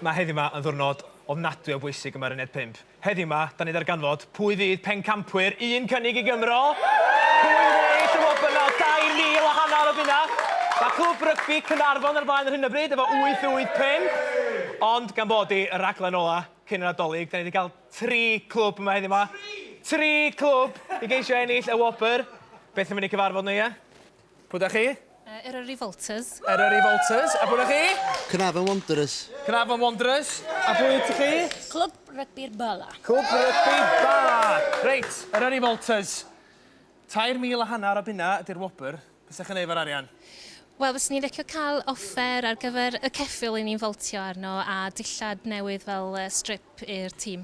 Mae heddiw 'ma yn ddiwrnod ofnadwy o bwysig yma ar Uned 5. Heddiw 'ma, da ni'n darganfod pwy fydd pencampwyr un cynnig i Gymro, pwy fydd yn ennill y wobr nawr 2,000 a hanner o bunna. Mae Clwb Rygbi Caernarfon ar flaen ar hyn o bryd efo 885, ond gan bod hi y rhaglen ola cyn yr Adolyg, da ni 'di cael tri clwb yma heddiw 'ma. Tri! Tri clwb i geisio ennill y wobr. Beth am i ni cyfarfod nhw, ie? Pwy da chi? Uh, Eryri Revolters. Eryri Revolters. A pwy da chi? Cnafon Wanderers. Cnafon Wanderers. A pwy ydych chi? Clwb Rygbi'r Bala. Clwb Rygbi'r Bala. Reit, Eryri Revolters. Tair mil a hanner o bunna ydy'r wobr. Beth sy'n ei efo'r arian? Wel, fes ni'n licio cael offer ar gyfer y ceffil i ni'n foltio arno a dillad newydd fel strip i'r tîm.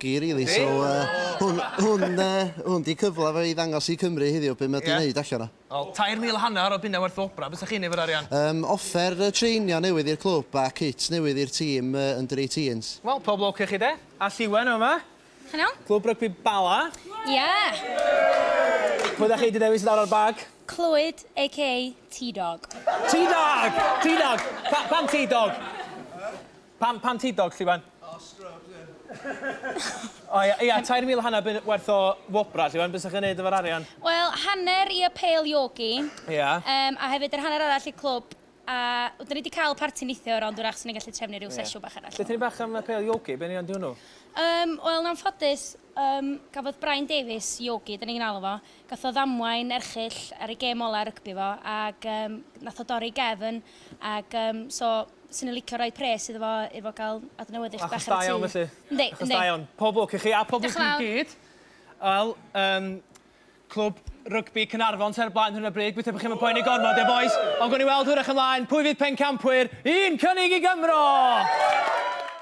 Gei rili so hwn hwn yy hwn di cyfla fe i ddangos i Cymru heddiw be ma di neud allan o. Wel tair mil a hannar o bunna werth o wobra, be sa chi'n neud efo'r arian? Yym offer yy treinio newydd i'r clwb a kit newydd i'r tîm yy under eighteens. Wel pob lwc i chi de. Allt Iwan yn fama. Helo. Clwb rygbi Bala. Ia! Pwy dach chi di dewis i lawr ar bag? Clwyd aka T-dog. T-dog! T-dog! Pa- pam T-dog? Pam, pam ti dog, Lliwen? Oh, scrubs, yeah. O ia, ia, tair mil a hanner bunnoedd werth o wobrau, Lliwen, be 'sech chi'n neud efo'r arian? Wel, hanner i y pêl iogi. Ia. Yym, a hefyd yr hanner arall i'r clwb, a w- 'dan ni 'di cael parti neithiwr, ond wrach 'swn i'n gallu trefnu ryw sesiwn bach arall. Deutha ni bach am y pêl iogi, be yn union 'di hwnnw? Yym, wel, yn anffodus, yym, gafodd Brian Davies, Iogi 'dan ni'n alw fo, gath o ddamwain erchyll ar ei gêm ola' rygbi fo, ag yym nath o dorri ei gefn, ag yym so Swn i'n licio rhoi pres iddo fo i fo gael adnewyddu chydig bach ar y tŷ. Achos da iawn felly? Yndi, yndi. Achos da iawn. Pob lwc i chi a pob lwc i chi gyd. Wel, yym, Clwb Rygbi Caernarfon sy ar y blaen ar hyn o bryd, gobeithio bod chi'm yn poeni gormod, ie bois? Ond gawn ni weld hwyrach ymlaen pwy fydd pencampwyr un cynnig i Gymro!